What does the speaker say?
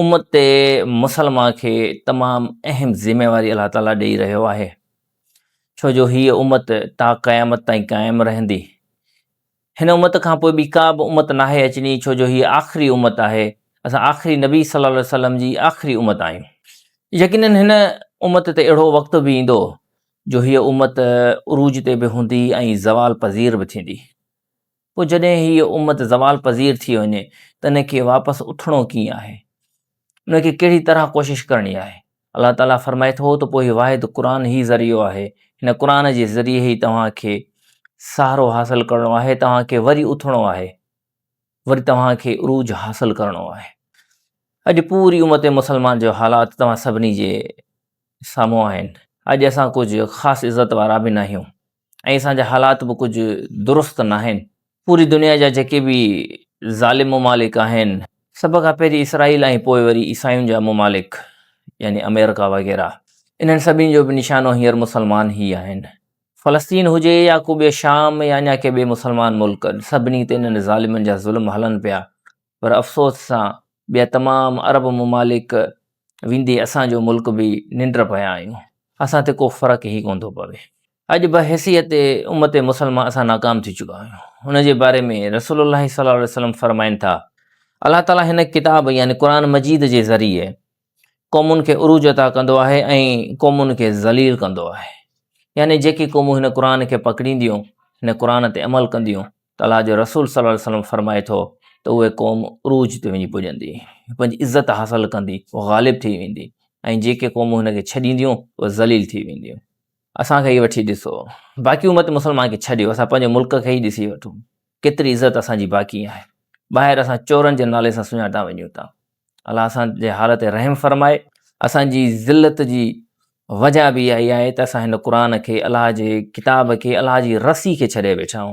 امت مسلمه کي تمام اهم ذميواري الله تعالي ڏئي رهيو آهي ڇو جو هيء امت تا قيامت تائين قائم رهندي هن امت کان پوء ٻي ڪا به امت ناهي اچڻي ڇو جو هيء آخري امت آهي اسان آخري نبي صلي الله عليه وسلم جي آخري امت آهيون يقينن هن امت تي اهڙو وقت به ايندو جو هيء امت عروج تي به هوندي ۽ زوال پذير به ٿيندي پوء جڏهن هيء امت زوال پذير ٿي وڃي ته ان کي واپس اٿڻو ڪيئن آهي؟ ان کي ڪهڙي طرح ڪوشش ڪرڻي آهي؟ الله تعاليٰ فرمائي ٿو ته پوء هي واحد قرآن ئي ذريعو آهي، هن قرآن جي ذريعي ئي توهان کي سهارو حاصل ڪرڻو آهي، توهان کي وري اٿڻو آهي، وري توهان کي عروج حاصل ڪرڻو آهي. اڄ پوري امت مسلمان جو حالات توهان سڀني جي سامهون آهن. اڄ اسان ڪجهه خاص عزت وارا به ناهيون. ۽ اسان جا حالات به ڪجهه درست ناهن. پوري دنيا جا جيڪي به ظالم ممالڪ آهن، سڀ کان پهرين اسرائيل ۽ پوء وري عيسائين جا ممالڪ يعني آمريڪا وغيره انهن سڀني جو به نشانو هينئر مسلمان ئي آهن. فلسطين هجي يا ڪو ٻيو شام يا اڃا ڪي ٻئي مسلمان ملڪ سڀني تي انهن ظالمن جا ظلم هلن پيا پر افسوس سان ٻيا تمام عرب ممالڪ ويندي اسان جو ملڪ به ننڊ پيا آهيون اسان تي ڪو فرق ئي ڪونه ٿو پوي اڄ بحيثيت امت مسلمه اسان ناڪام ٿي چڪا آهيون ان جي باري ۾ رسول الله صلي الله عليه وسلم فرمائن ٿا الله تعالي هن ڪتاب يعني قرآن مجيد جي ذريعي قومن کي عروج عطا ڪندو آهي ۽ قومن کي ذليل ڪندو آهي يعني جيڪي قومون هن قرآن کي پڪڙينديون هن قرآن تي عمل ڪنديون ته الله جو رسول صلي الله عليه وسلم فرمائي ٿو ته اهي قوم عروج تي وڃي پڄندي پنهنجي عزت حاصل ڪندي اهو غالب ٿي ويندي ۽ جيڪي قومون هن کي ڇڏينديون اهي ذليل ٿي وينديون اسان کي وٺي ڏسو باقي امت مسلمان کي ڇڏيو اسان پنهنجي ملڪ کي ئي ڏسي وٺون ڪيتري عزت اسان جي باقي آهي ٻاهر اسان چورن جي نالي سان سڃاتا وڃون ٿا الله اسان جي حال تي رحم فرمائي. اسان جي ذلت جي وجه به اهائي آهي ته اسان هن قرآن کي الله جي ڪتاب کي الله جي رسي کي ڇڏي ويٺا آهيون.